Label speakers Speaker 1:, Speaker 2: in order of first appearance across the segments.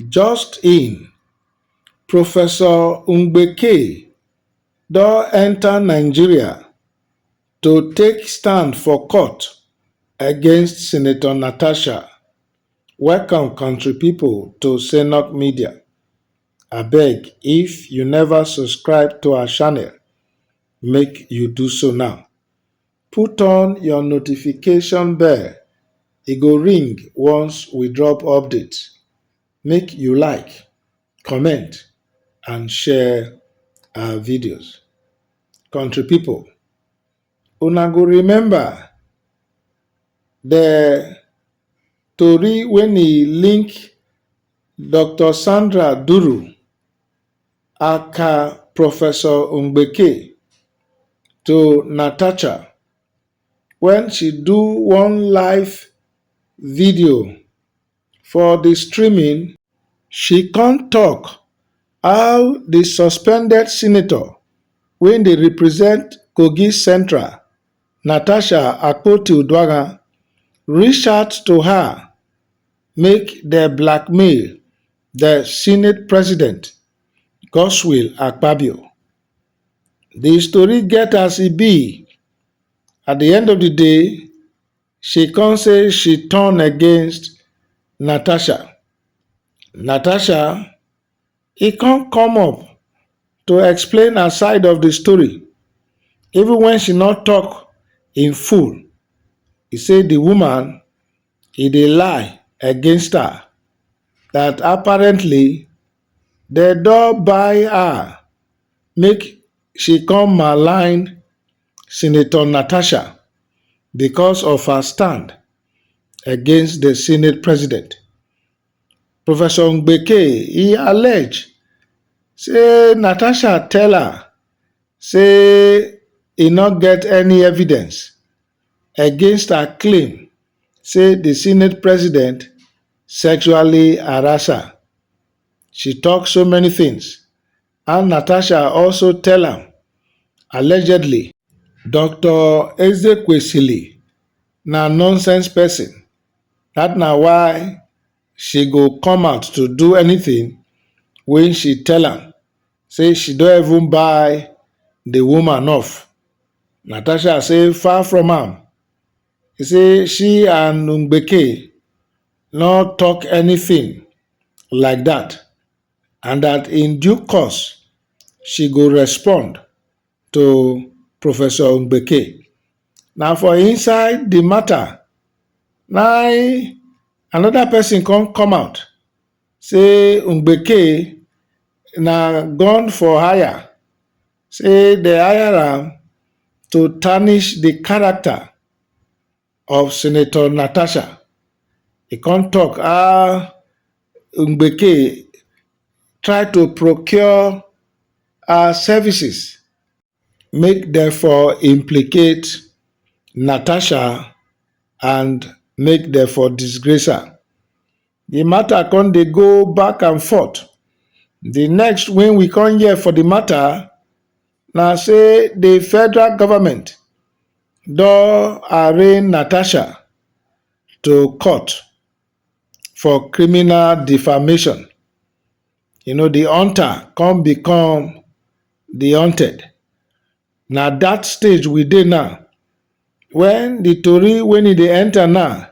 Speaker 1: just in professor mbeki don enta nigeria to take stand for court against senator natasha welcome kontri pipo to saynort media abeg if you neva subscribe to our channel make you do so now. Put on your notification bell, e go ring once we drop update. Make you like, comment and share our videos. Country people, una go remember the tori when e link Dr. Sandra Duru Aka Professor Mbeki to Natasha when she do one live video for the streaming, she come talk how the suspended senator wey dey represent Kogi Central, Natasha Akpoti-Uduaghan reach out to her make dem blackmail The Senate President, Godswill Akpabio. The story get as e be. At the end of the day, she come say she turn against Natasha. Natasha, e come come up to explain her side of the story. Even when she not talk in full, he say the woman e dey lie against her that apparently dem don buy her make she come malign senator natasha because of her stand against the senate president. Professor Mbeke, e allege say Natasha tell her say e no get any evidence against her claim say di senate president sexually harass her she tok so many tins and natasha also tell am allegedly. Doctor Ezekwesili na nonsense person, dat na why she go come out to do anything when she tell am say she don even buy the woman off. Natasha say far from am. He say she and Ngbeke no talk anything like that and that in due course she go respond to Professor Mbeke. Na for inside the matter na im another person come come out say Mbeke na gun for hire, say they hire am to tarnish the character of Senator Natasha, he come talk how Mbeke try to procure her services make dem for implicate Natasha and make dem for disgrace her. The matter come dey go back and forth. The next when we come here for the matter, na say di federal goment don arraign natasha to court for criminal defamation you know di hunter come become di hunted na dat stage we dey now wen di tori wen e dey enta now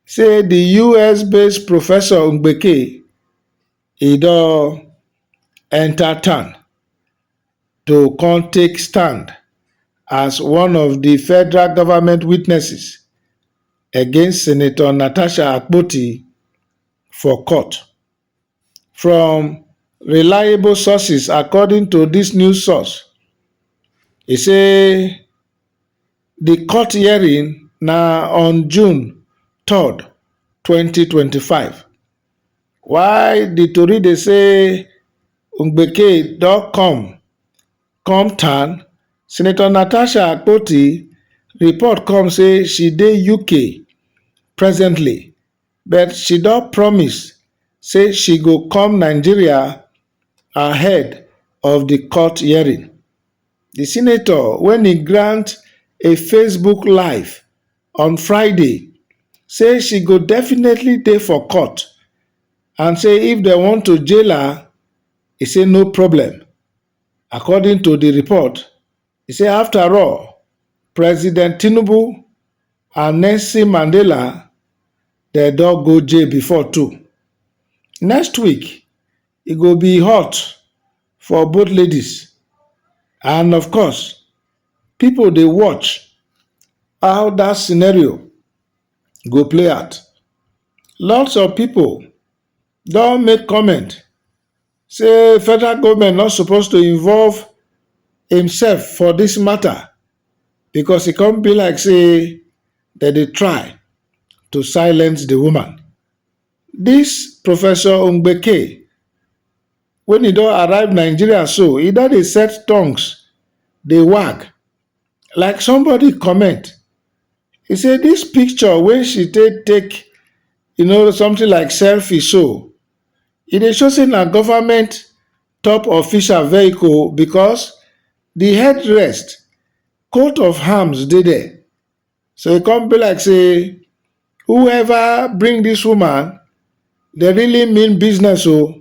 Speaker 1: say di us based professor mbeki e don enta town to come take stand as one of di federal government witnesses against senator natasha akpoti for court. From reliable sources according to dis news source, e say di court hearing na on June third, twenty twenty five. While di tori dey say Ngbeke don come come town, Senator Natasha Akpoti report come say she dey UK presently but she don promise say she go come Nigeria ahead of di court hearing. Di senator wen e grant a Facebook live on friday say she go definitely dey for court and say if dem want to jail her e say no problem according to di report e say after all president tinubu and nelson mandela dem don go jail before too next week e go be hot for both ladies and of course Pipo dey watch how dat scenario go play out. Lots of pipo don make comment say federal goment no suppose to involve imsef for dis mata becos e come be like say dem dey try to silence di woman. Dis Professor Ngbeke. Wen e don arrive Nigeria so, e don dey set tongues dey wag like somebody comment e say dis picture wey she take take you know something like selfie so, e dey show say na government top official vehicle because di headrest coat of arms dey there So e come be like say whoever bring this woman, they really mean business o. Oh.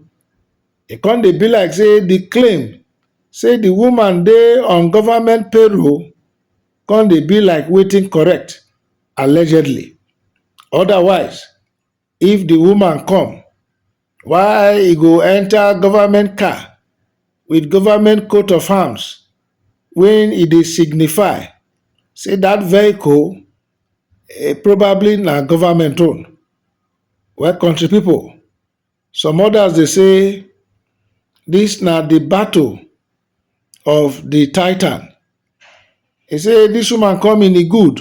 Speaker 1: E come dey be like say the claim say the woman dey on government payroll come dey be like waiting correct allegedly. Otherwise, if the woman come, Why e go enter government car with government coat of arms when e dey signify sey dat vehicle probably na government own. Well country people some others dey sey dis na de battle of de titan. Dey sey dis woman come in a good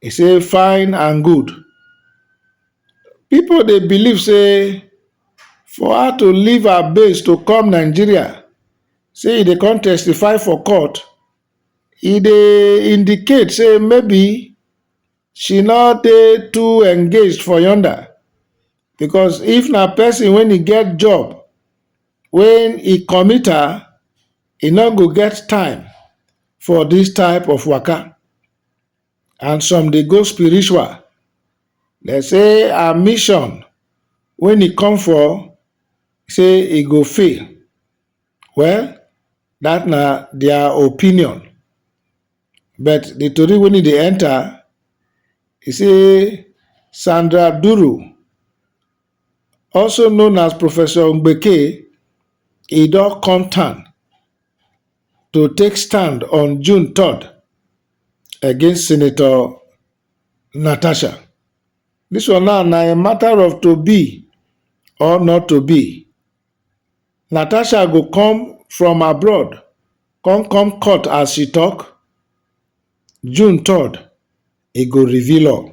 Speaker 1: E say fine and good. Pipo dey believe say for her to leave her base to come Nigeria say e dey come testify for court, e dey indicate say maybe she no dey too engaged for yonda because if na pesin wey e get job wey e commit her, e no go get time for this type of waka and some dey go spiritual dem say her mission when e come for say e go fail well that na their opinion but the tori when e dey enter e say Sandra Duru also known as professor mbeki e don come town to take stand on june 3rd against senator natasha dis one now na a matter of to be or not to be natasha go come from abroad come come court as she tok june 3rd e go reveal all